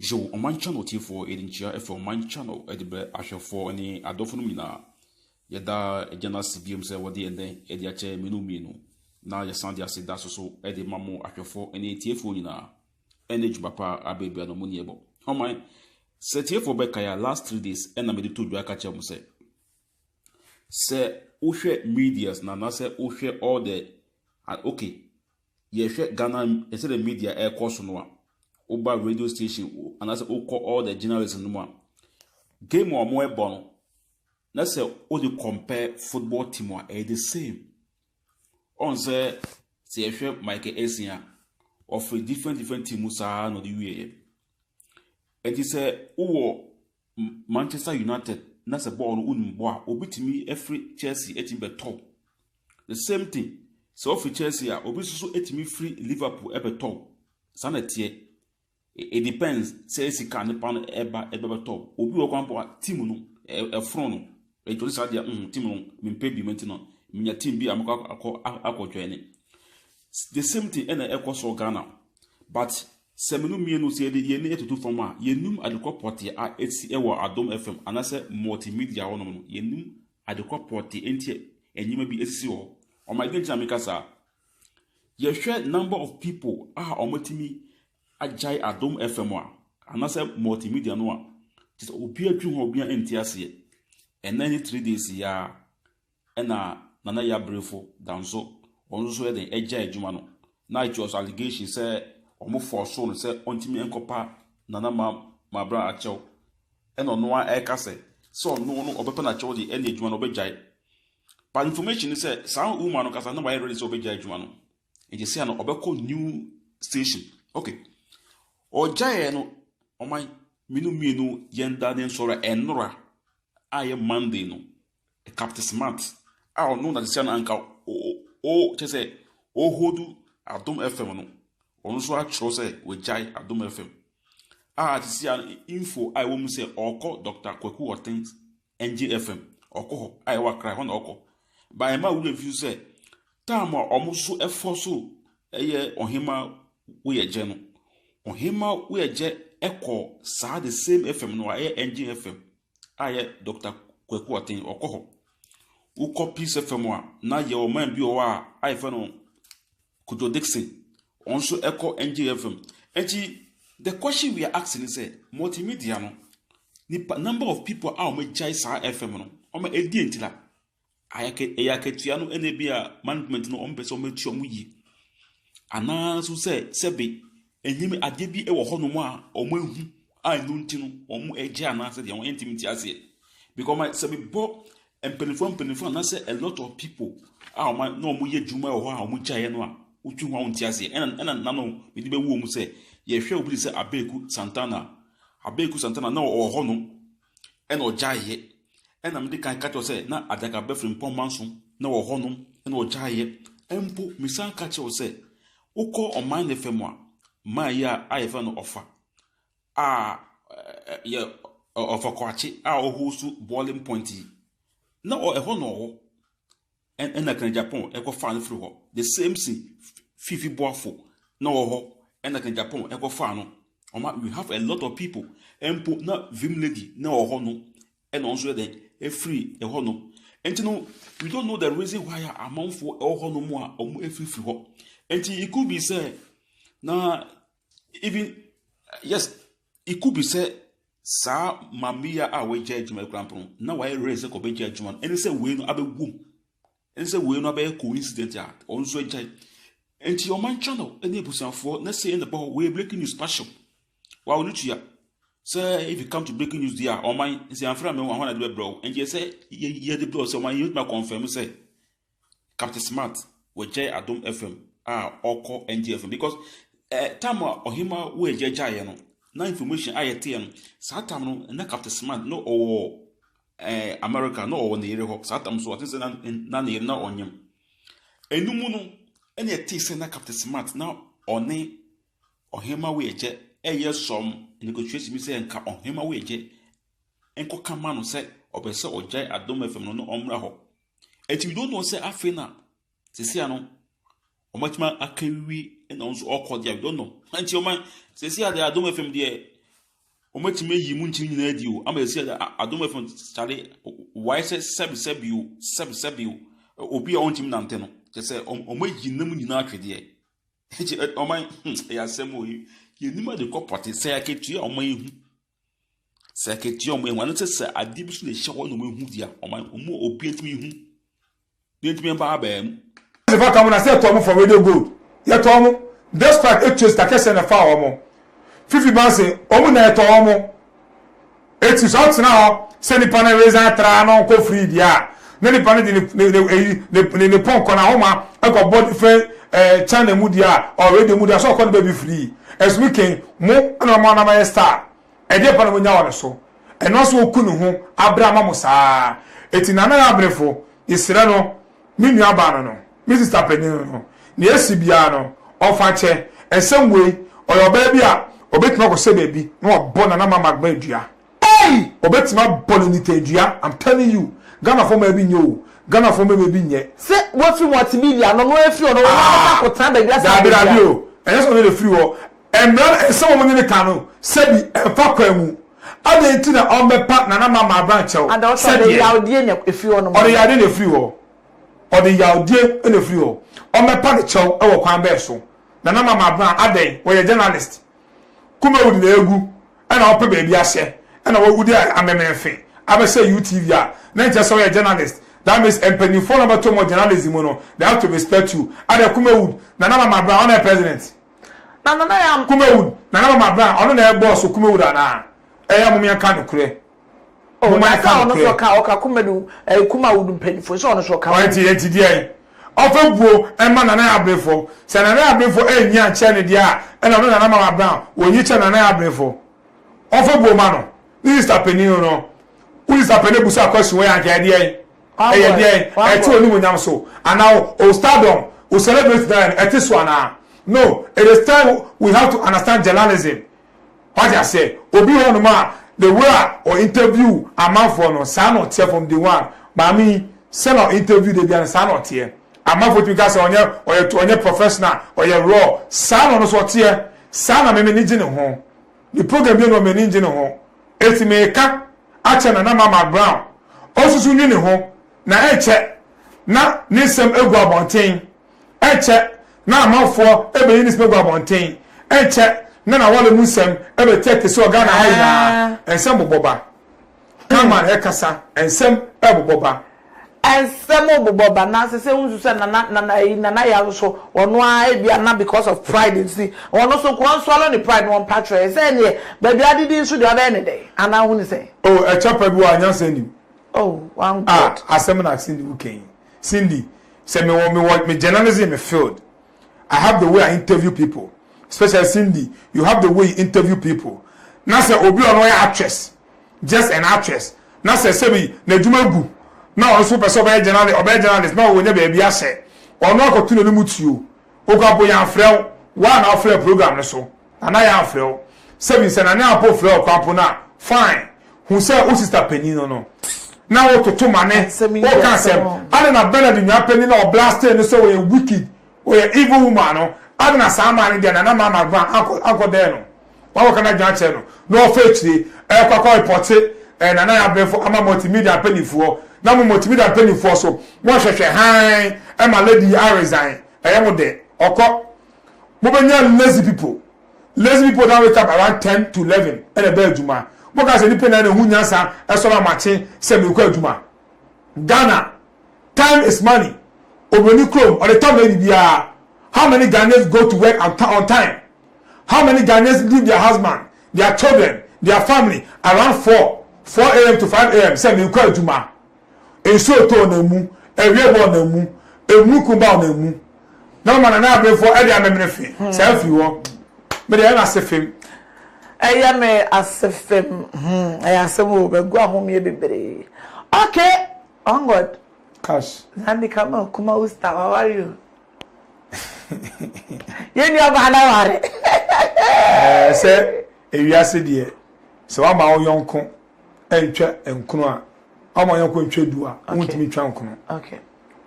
Hyew Ɔman Channel tiefoɔ yɛde nkyia firi Ɔman Channel de brɛ ahwɛfoɔ ne adɔfonom nyinaa. Yɛda Agya no ase bio sɛ wɔde ɛnnɛ adi akyɛ mmere no mmienu, na yɛsan de ase da so so de ma mo ahwɛfoɔ ne atiefoɔ nyinaa. Ɛne dwuma pa a bere biara no mo ani ɛbɔ. Ɔman, sɛ atiefoɔ bɛkae a last three days ɛna mede to dwa ka kyerɛ mo sɛ, sɛ wohwɛ medias na anaasɛ wohwɛ all the, ah, okay, yɛhwɛ Ghana, ɛsɛ dɛ media ɛkɔ so no a, woba radio station anaasɛ wokɔ all the journalism no mu a, game a wɔn ɛbɔ no, na sɛ wode compare football team a ɛyɛ the same ɔn sɛ sɛ yɛhwɛ Michael Essien a ɔfiri different different team mu saa na ɔde wieɛ ɛti sɛ wowɔ Manchester United na sɛ bɔɔl no wonim bɔ a obi tumi afiri Chelsea atumi bɛtɔ the same thing sɛ ɔfiri Chelsea a obi nso so atumi firi Liverpool ɛbɛtɔ saa na ɛteɛ It depends sɛ sika nipa no ɛba ɛbɛbɛtɔ obi wɔ kwan po a team no ɛforo no ɛtɔ ne saa deɛ mm team no mempɛ bi mɛnti no menya team bi a mɛkɔ akɔ akɔ join the same thing ɛna ɛkɔ so Ghana but sɛ menu mmienu sɛ yɛde yɛn ani ɛtutu fam a yɛnum adekɔ pɔte a ɛsi ɛwɔ adom fm anaasɛ multimedia hɔ nom no yɛnum adekɔ pɔte ɛnti ɛnyɛma bi ɛsisi hɔ ɔmo ɛdi nti na meka saa Yɛhwɛ number of people a wɔatumi agyae Adom FM a, anaasɛ multimedia no a, kyerɛ sɛ obiara dwen ho a obiara nte aseɛ. Ɛnnɛ ne three days yi ara ɛna Nana Yaa Brifo da nso ɔno nso yɛ dɛn agyae adwuma no. Na it was allegation sɛ wɔforcoo no sɛ ɔntumi nkɔpa Nana Ma Mabra akyɛw. Ɛna ɔno ara ɛreka sɛ sɛ ɔno no ɔbɛpa no akyɛw deɛ ɛne adwuma no ɔbɛgyae. But information ne sɛ saa woman no kasa na wayɛ ready sɛ ɔbɛgya adwuma no. Nti sɛ no ɔbɛkɔ new station. Okay. Ɔgyaeɛ no ɔman mmienu mmienu yɛn da ne nsɔre a ɛnora a yɛ Monday no. Captain Smart a ɔno na sɛ no anka o kyɛ sɛ ɔhodu Adom FM no. Ɔno nso atwerɛ sɛ wagyae Adom FM. A te sɛ info a ɛwɔ mu sɛ ɔrekɔ Dr. Kwaku Ɔten Ɛngye ɛfam. Ɔkɔ hɔ. A ɛwɔ Accra, ɛhɔ na ɔkɔ. Ba ɛma wo werɛ fi sɛ time a wɔn so ɛfɔ so ɛyɛ ɔhema woyɛgyɛ no. Ɔhema woyɛgyɛ ɛkɔ saa the same FM no a ɛyɛ Ɛngye FM a ɛyɛ Dr. Kwaku Ɔten ɔkɔ hɔ. Wokɔ Peace FM a na yɛ ɔman bi wɔ hɔ a a yɛfrɛ no Kojo Dixon Wɔn nso kɔ NJM fam. Enti the question we are asking ne sɛ multimedia no nipa number of people a wɔagyae saa FM no wɔn ɛdeɛ nti la ayɛ ɛyɛ akatua no ɛna ebi a management no wɔn pɛ sɛ wɔn atua wɔn yie anaa nso sɛ sɛbe ɛnyɛ adeɛ bi wɔ hɔnom a wɔn ahu. a ɛno nti no wɔn agye anaasɛ deɛ wɔn yɛn ntumi ti aseɛ because my sɛ mebɔ mpanimfoɔ mpanimfoɔ anaasɛ a lot of people a wɔn na wɔn yɛ adwuma wɔ hɔ a wɔn gyaeɛ no a wotu ho a wɔn ti aseɛ ɛna ɛna nano mede bɛwu wɔn sɛ yɛhwɛ obi sɛ abeeku santana abeeku santana na ɔwɔ hɔ no ɛna ɔgyaeɛ ɛna mede kan ka kyerɛ sɛ na adaka bɛfiri mpɔmma nso na ɔwɔ hɔ no ɛna ɔgyaeɛ mpo mesan ka kyerɛ sɛ wokɔ ɔman ne fam a maa yi a ayɛfɛ no ɔfa a ɛ yɛ ɔ ɔfɔkwakye a ɔhosu boiling point yi. Na ɔ ɛhɔ na ɔwɔ. Ɛ ɛna kena Japan ɛkɔfaa no firi hɔ. The same si Fifi Boafo na ɔwɔ hɔ ɛna kena Japan ɛkɔfaa no. Ɔma we have a lot of people. Mpo na Vim Lady na ɔwɔ hɔ no ɛna ɔno nso yɛ dɛn ɛfiri ɛhɔ nom. Nti no we don't know the reason why a amanfoɔ ɛwɔ hɔ nom a wɔn ɛfirifiri hɔ. Nti it could be sɛ na even yes it could be sɛ saa mameya a wɔagya adwuma kura mpo no na wɔayɛ rɛ sɛ kɔbɛgya adwuma no ɛne sɛ wei no abɛgu mu ɛne sɛ wei no abɛyɛ coincident a ɔno nso agyae nti ɔman channel ne abusuafoɔ na sei na ɛbɔ hɔ wɔyɛ breaking news passion wa wɔn tua sɛ if you come to breaking news deɛ a ɔman nsi anfra mɛ wɔn ahɔn ade bɛbrɛ o nti yɛ sɛ yɛ yɛ de brɛ o sɛ ɔman yɛ tuma confirm sɛ Captain Smart wɔagyae Adom FM a ɔkɔ NG FM because eh, time a ɔhema wo agya gyaeɛ no na information a yɛteɛ no saa time no na Captain Smart na ɔwɔ eh, America na ɔwɔ ne yere hɔ saa time so ɔte sɛ na na ne yere na ɔnyem ɛno mu no ɛna ɛte sɛ na Captain Smart na ɔne ɔhema wo agya ɛyɛ sɔm negotiation bi sɛ nka ɔhema wo agya nkɔka ma no sɛ ɔbɛ sɛ ɔgyae Adom FM no na ɔmmra hɔ Enti we don't know sɛ afei na sesia no wɔatumi akawiwi na wɔn nso ɔkɔ deɛ we don't know. Enti wɔn sesia deɛ adom fam deɛ wɔatumi ayi mu nkyiri nyinaa di o ama sesia deɛ adom fam kyale wae sɛ sɛbi sɛbi o sɛbi sɛbi o obi a ɔntumi nante no kyɛ sɛ wɔn ayi nam nyinaa atwedeɛ. Enti wɔn ɛyɛ asɛm o yɛnim ade kɔ pɔte sɛ akatua wɔn ayi ho. Sɛ akatua a wɔyɛ wɔn ano sɛ sɛ adeɛ bi so na ɛhyɛ hɔ na wɔahu deɛ a, wɔn ano- wɔn a obi ntumi nhu. Deɛ ntumi mba abaa mu. Ɛsɛ fa ka mo na sɛ ɛtɔ mo for radio gold yɛtɔ mo despite etua sika kɛseɛ na ɛfaa wɔn fifi banse wɔn nyinaa yɛtɔ wɔn eti sɛ ɔtena hɔ sɛ nipa no resign traa na ɔnkɔ free deɛ a na nipa no de ne ne ne eyi ne ne ne pɔnkɔ na ahoma ɛkɔbɔ different ɛɛ eh, channel mu deɛ a ɔ radio mu deɛ a sɛ ɔkɔ ne baabi free ɛsumi ken mo ɛna ɔma ɔnam ayɛ star ɛdeɛ pa na mo nya wɔ ne so ɛno nso oku ne ho abere ama mo saa eti nana yɛ abenefo yɛsrɛ no me nua baa no no me sista panyin no no nea esi biara no ɔfa kyɛ ɛnsɛm wei ɔyɛ ɔbaa bi a ɔbɛtumi akɔsɛ baabi na wabɔ nana ma magma dua Ei! Ɔbɛtumi abɔ no nitaadua I'm telling you Ghanafoɔ mmaa bi nyɛ o Ghanafoɔ mmɛma bi nyɛ. Se wafi multimedia ano no efiri hɔ no wɔn ara bɛkɔ ako tena baabi asa abedua. Daabi daabi o ɛnyɛ sɛ ɔno na efiri hɔ ɛmmra no ɛnsɛ wɔn ne no ka no sɛbi ɛnfa kwan mu adɛn nti na ɔmmɛpa Nana Mama abran kyɛw Ada ɔse ɔde sɛdeɛ yawdie na efiri hɔ nom ɔde yawdie na efiri hɔ ɔde yawdie na efiri hɔ ɔmmɛpa ne kyɛw ɛwɔ kwan bɛn so Nana Mama abran adɛn wɔyɛ journalist Kumawudi na egu ɛna ɔpɛ baabi ahyɛ ɛna wawu de amemene fe abɛhyɛ UTV a na nkyɛ sɛ ɔyɛ journalist that means mpanyinfoɔ na ɔbɛtom wɔ journalism mu no they have to respect you adɛ Kumawud Nana Mama Bra ɔna yɛ president na Nana Kumawud Nana Mama Bra ɔno na ɛbɔɔ so Kumawud anaa ɛyɛ mom yɛnka nokorɛ. Oh, Moma na yɛka sɛ ɔno nso nokorɛ. ɔka ɔka kumadu ɛɛ kumawudu mpanyinfoɔ nso ɔno nso ɔka ho. Ɔnti yɛnti deɛn? Ɔfɛ buo ɛma Nana Abrefo. Sɛ Nana Abrefo ɛnyi ankyɛrɛ no deɛ a ɛna ɔno Nana Mama Brown wɔnyi kyɛrɛ Nana Abrefo. Ɔfɛ buo ma no. Ne sista panin no no. Wo sista panin abu so akɔ asu wɔ yɛ anka ɛdeɛn? Ɛyɛ Wabɔ deɛn? ɛ Ɛte wabɔ. onimuonyam so anaa wo wo stardom wo celebrate no ɛte so anaa? No, it is time we have to understand journalism. Wate aseɛ? Obi hɔ nom a, the way a ɔ interview amanfoɔ no, saa na ɔteɛ from day one. Maame yi, sɛdeɛ ɔ interview da biara no, saa na ɔteɛ. Amanfoɔ tumi ka sɛ ɔnyɛ, ɔyɛ, ɔnyɛ professional, ɔyɛ raw. Saa na ɔno nso ɔteɛ. Saa na me m'ani gye ne ho. Ne program biara nni hɔ a m'ani ngye ne ho. Enti meka akyerɛ Nana Marmal Brown, ɔnsusu nwi ne ho, na ɛnkyɛ na ne nsɛm agu abɔnten. Ɛnkyɛ na amanfoɔ bɛyi ne smagu abɔnten. Ɛnkyɛ na n'awale mu nsɛm bɛteɛteɛ sɛ wɔ Ghana ha nyinaa. Nsɛm bobɔ ba. Cameraman rekasa, nsɛm rebobɔ ba. Nsɛm rebobɔ ba. Nanso sɛ wonsusu sɛ Nana, Nana ayi, Nana Yaw nso, ɔno ara ebia na because of pride nti, ɔno nso nka ɔnswallow ne pride na ɔmpa kyerɛ yɛn. Sɛ ɛnneɛ, Badu Adidi nso deɛ, ɔbɛyɛ ne dɛn? Anaa wohu no sɛn? Oh, ɛkyɛ pa bi wɔ ha a, nyansa nnim. Oh, one God. Ah, asɛm na Cindy woka yi. Cindy sɛ me wɔ me wɔ me journalism me field I have the way I interview people especially Cindy you have the way you interview people na sɛ obi ɔno yɛ actress just an actress na sɛ sɛbi n'adwuma gu na ɔno so pɛ sɛ ɔbɛyɛ journalist ɔbɛyɛ journalist na ɔwɔ nya baabi ahyɛ ɔno akɔto n'anim tuo okɔ apo yɛn afrɛ wo waa na ɔfrɛ program no so. Nana Yaa frɛ wo. Sɛbi sɛ Nana Yaa mpo frɛ wo kwan po no a, fine. Hu sɛ wo sista panin no no na wo toto ma ne wo ka asɛm. Adɛn na Bernard nua panin no a wɔ blastee no sɛ ɔyɛ wicked, ɔyɛ evil woman no, adɛn na saa maa no deɛ Nana Maa Margvaa ankɔ ankɔ dɛn no? Wɔn a wɔka no adwene akyerɛ no na ɔfa akyire ɛɛkɔ akɔ repɔte ɛɛ Nana Yaa brɛfo ama multimedia mpaninfoɔ. Na mo multimedia mpaninfoɔ so mo nhwɛhwɛ hann ɛma lady yi aresign. Ɛyɛ mo dɛ. Ɔkɔ. mobɛnya lazy people lazy people na wake up around ten to eleven ɛna ɛbɛ adwuma moka sɛ nipa na na ɛho nyansa ɛsɔre amakye sɛ mekɔ adwuma Ghana time is money obroni krom ɔde tɔ mɛ bibiara how many Ghanaians go to work on time how many Ghanaians leave their husband their children their family around four four am to five am sɛ mekɔ adwuma Nsuo tɔ ɔnam mu, ɛweɛ bɔ ɔnam mu, emunukun ba ɔnam mu. Na ɔma Nana Abenfoɔ ɛde amemene fe saa firi hɔ. Me deɛ ɛyɛ me ase fem. Ɛyɛ me ase fem. Hmm, ɛyɛ asɛm o, magu ahomeɛ bebree. Okay, on God. Cash. Nandi Kama Okuma Usta, how are you? Yɛn nua baa na ware. Ɛɛ sɛ ewiase deɛ sɛ wama wo yɔnko ntwa nkono a, ɔma ɔyɔnko ntwa du a, wontumi ntwa nkono.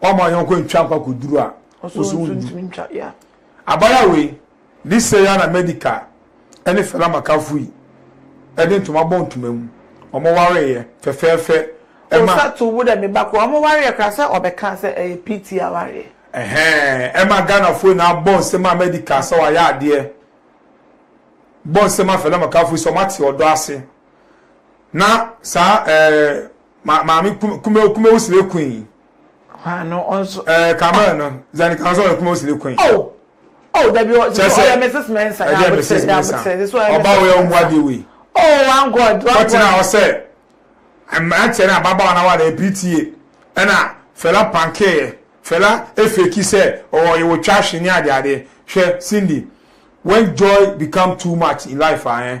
Ɔma ɔyɔnko ntwa nkɔ akɔduru a, woso wontumi ntwa. Abaya wei, ne sɛ ya na Medical ɛne Fela Makafui yi ɛde ntoma bɔ ntoma mu. Ɔmo wareeɛ fɛfɛɛfɛ. Ɛma. Osa to wo dɛ me ba koro. Ɔmo wareeɛ koraa sɛ ɔbɛka sɛ ɛyɛ PT awareɛ. Ɛhɛɛ, ɛma Ghanafoɔ nyinaa bɔ nsam ma Medical sɛ wayɛ adeɛ. Bɔ nsam ma Fela Makafui sɛ ɔmo ate ɔdɔ ase. na saa ɛɛ ma maame kume kume wosire kun yi. hwan no ɔnso. ɛɛ kamara no zani kan sɛ ɔyɛ kume wosire kun yi. o oh, o oh, dabi ɔsɛ sɛ ɔyɛ mrs mensa ɛdi yɛ mrs mensa ɔba ɔyɛ ɔmu adeɛ wei. o oh, one god one god. ɔtena ɔsɛ mmeranteɛ na ababaawa na wa na epitie ɛna fɛla pankeeɛ fɛla efeki sɛ ɔwɔ yɛ wɔ twa ahwe ne adeade hwɛ cindy when joy become too much in life ayɛ. Eh?